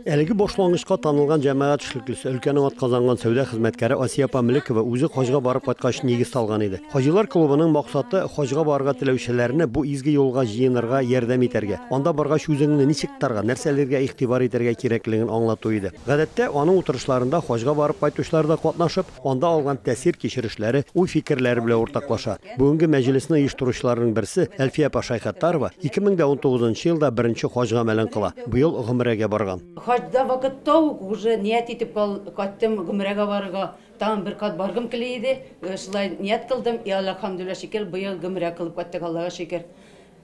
Әлеге башлангычка танылган җәмәгать эшлеклесе, өлкәнең атказанган сәүдә хезмәткәре Асия апа Мөлекова үзе хаҗга барып кайткач нигез салган иде. Хаҗилар клубының максаты хаҗга барырга теләүчеләрне бу изге юлга җыенырга ярдәм итәргә, анда баргач үзеңне ничек тотарга, нәрсәләргә игътибар итәргә кирәклеген аңлату иде. Гадәттә, аның утырышларында хаҗга барып кайтучылар да катнашып, Анда алган тәэсир-кичерешләре, уй-фикерләре белән уртаклаша. Бүгенге мәҗлесне оештыручыларның берсе, Әлфия апа Шәйхаттарова, 2019 нчы елда беренче хаҗ гамәлен кыла, быел гомерәгә барган. Хаҗда вакытта ук уже ният итеп кайттым гомерәгә барырга, тагын бер кат баргым кели иде, шулай ният кылдым, и Аллаһ, хәмдүлилләһ шөкер, быел гомерә кылып кайттык, Аллага шөкер.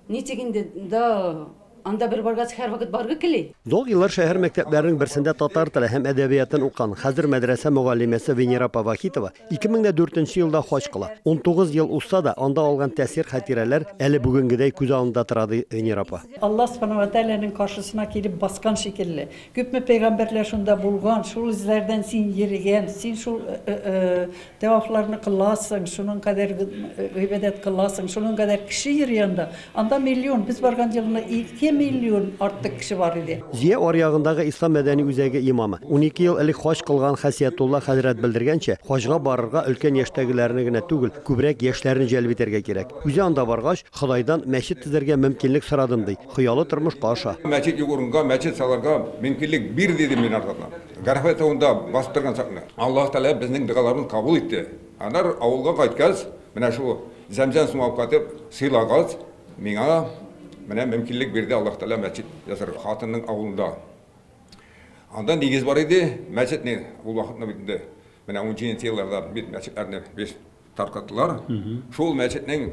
Ничек инде да анда бер баргач, һәрвакыт баргы кили. Зур еллар шәһәр мәктәпләренең берсендә татар теле һәм әдәбиятын укыган, хәзер мәдрәсә мөгаллимәсе Венера апа Вахитова 2004 елда хаҗ кыла. 19 ел узса да, анда алган тәэсир, хатирәләр әле бүгенгедәй күз алдында тора, ди Венера апа. Алла Субхана ва Тәгаләнең каршысына килеп баскан шикелле. Күпме пәйгамбәрләр шунда булган, шул эзләрдән син йөрегән, син шул Тәвафларны кыласың, шуның кадәр гыйбадәт кыласың, шуның кадәр кеше йөри анда. Анда миллион, без барган елны ике миллион артык кеше бар иде. Зөя аръягындагы Ислам мәдәни үзәге имамы, унике ел элек хаҗ кылган Хәсиятулла хәзрәт белдергәнчә, хаҗга барырга өлкән яшьтәгеләрне генә түгел, күбрәк яшьләрне җәлеп итәргә кирәк. Үзе анда баргач, Ходайдан мәчет төзергә мөмкинлек сорадым, ди. Хыялы тормышка аша. Мәчет юк урынга мәчет салырга мөмкинлек бир, дидем мин аларга. Гарәфә тавында басып торган чакны Аллаһ Тәгалә безнең догаларыбызны кабул итте. Аннары авылга кайткач, менә шул зәмзәм суын алып кайтып сыйлагач, миңа менә мөмкинлек бирде Аллаһ Тәгалә мәчет ясарга. Хатынның авылында. Анда нигез бар иде, мәчет ни, ул вакытны бит инде менә унҗиденче елларда бит мәчетләрне без таркаттылар. Шул мәчетнең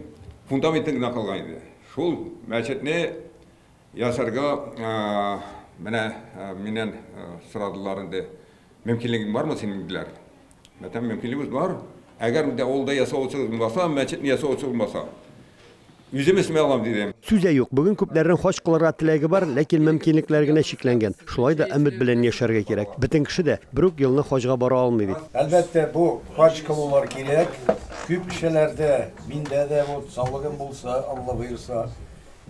фундаментын гына калган иде. Шул мәчетне Ясарга менә миннән сорадылар инде. Мөмкинлегең бармы синең диләр. Мәтәм мөмкинлегебез бар. Әгәр инде авылда ясавычы булмаса, мәчетне ясавычы булмаса, үзем эшли алам, дидем. Сүз дә юк, бүген күпләрнең хаҗ кылырга теләге бар, ләкин мөмкинлекләр генә чикләнгән. Шулай да өмет белән яшәргә кирәк. Бөтен кеше дә бер үк елны хаҗга бара алмый бит. Әлбәттә, бу хаҗ кылулар кирәк. Күп кешеләрдә, миндә дә вот саулыгым булса, Алла боерса,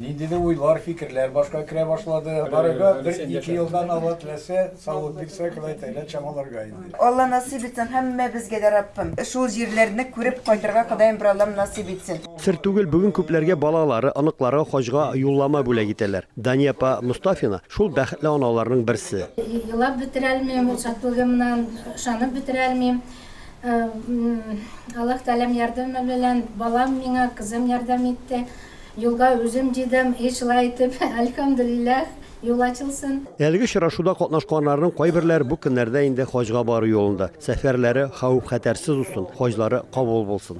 Ниндидер уйлар, фикерләр башка керә башлады. Барырга бер-ике елдан Алла теләсә, саулык бирсә, Ходай Тәгалә чамаларга инде. Алла насыйп итсен һәммәбезгә дә, Раббым. Шул җирләрне күреп кайтырга Ходаем бер Аллам насыйп итсен. Сер түгел, бүген күпләргә балалары, оныклары хаҗга юллама бүләк итәләр. Дания апа Мостафина, шул бәхетле аналарның берсе. Елап бетерә алмыйм ул шатлыгымнан, ышанып бетерә алмыйм. Аллаһ Тәгаләм ярдәме белән балам миңа, кызым ярдәм итте. Юлга үзем дидем, и шулай итеп, әлхәмдүлилләһ, юл ачылсын. Әлеге очрашуда катнашканнарның кайберләре бу көннәрдә инде хаҗга бару юлында. Сәфәрләре хәвеф-хәтәрсез узсын, хаҗлары кабул булсын!